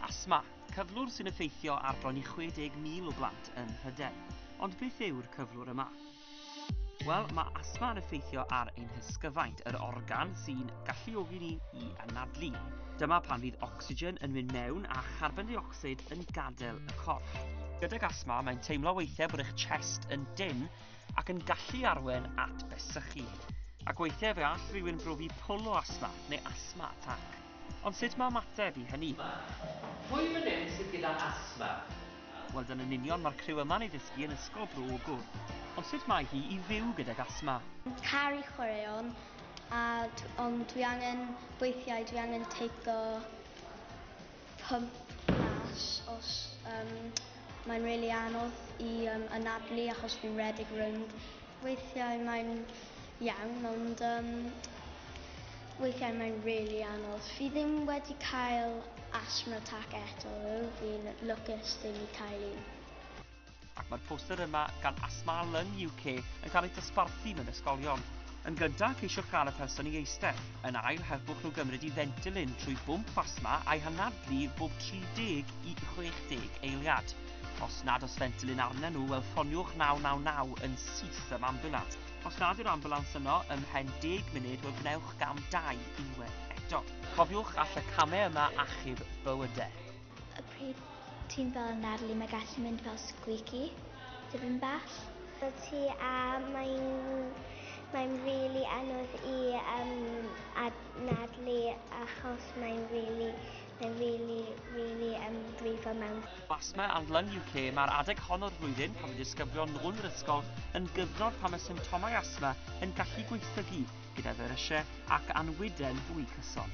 Asthma, cyflwr sy'n effeithio ar bron i 60,000 o blant yng Mhrydain. Ond beth yw'r cyflwr yma? Wel, mae asthma yn effeithio ar ein hysgyfaint, yr organ sy'n galluogi ni i anadlu. Dyma pan fydd ocsigen yn mynd mewn a charbon dioxid yn gadael y corff. Gydag asma, mae'n teimlo weithiau bod eich chest yn dyn ac yn gallu arwen at besychu. Ac weithiau fe all rhywun brofi pwl o asma neu asma atac. Ond sut mae ymateb i hynny? Mae. Pwy fan hyn sydd gyda asthma? Wel dan yn union mae'r criw yma'n ei ddysgu yn ysgol Bro Ogwr. Ond sut mae hi i fyw gydag asthma? Caru chwaraeon a d- ond dwi angen weithiau dwi angen teico pump mas os yym mae'n rili anodd i yym anadlu achos fi'n rhedeg rownd. Weithiau mae'n iawn ond yym Weithiau mae'n rili anodd. Fi ddim wedi cael asthma attack eto ddo, fi'n lwcus ddim i cael un. Ac mae'r poster yma gan Asthma Lung UK yn cael ei dosbarthu mewn ysgolion. Yn gyntaf, ceisiwch gael y person i eistedd. Yn ail, helpwch nhw gymryd i fentilin trwy bwmp asthma a'i hanadlu bob 30 i 60 eiliad. Os nad oes fentilin arnyn nhw, wel ffoniwch 999 yn syth am ambiwlans. Os nad yw'r ambulans yno ym mhen deg munud, wel gwnewch gam dau unwaith eto. Cofiwch all y camau yma achub bywydau. Y pryd ti'n fel Natalie, mae gallu mynd fel squeaky, tipyn bach. Y ti a mae'n mae'n rili anodd i um, ad Natalie achos mae'n rili Mae'n rili, rili yn brifo mewn. Asthma and Lung UK, Mae'r adeg hon o'r flwyddyn, pan mae disgyblion nôl yn yr ysgol, yn gyfnod pan mae symptomau asthma yn gallu gweithygu gyda ferysiau ac anwydden fwy cyson.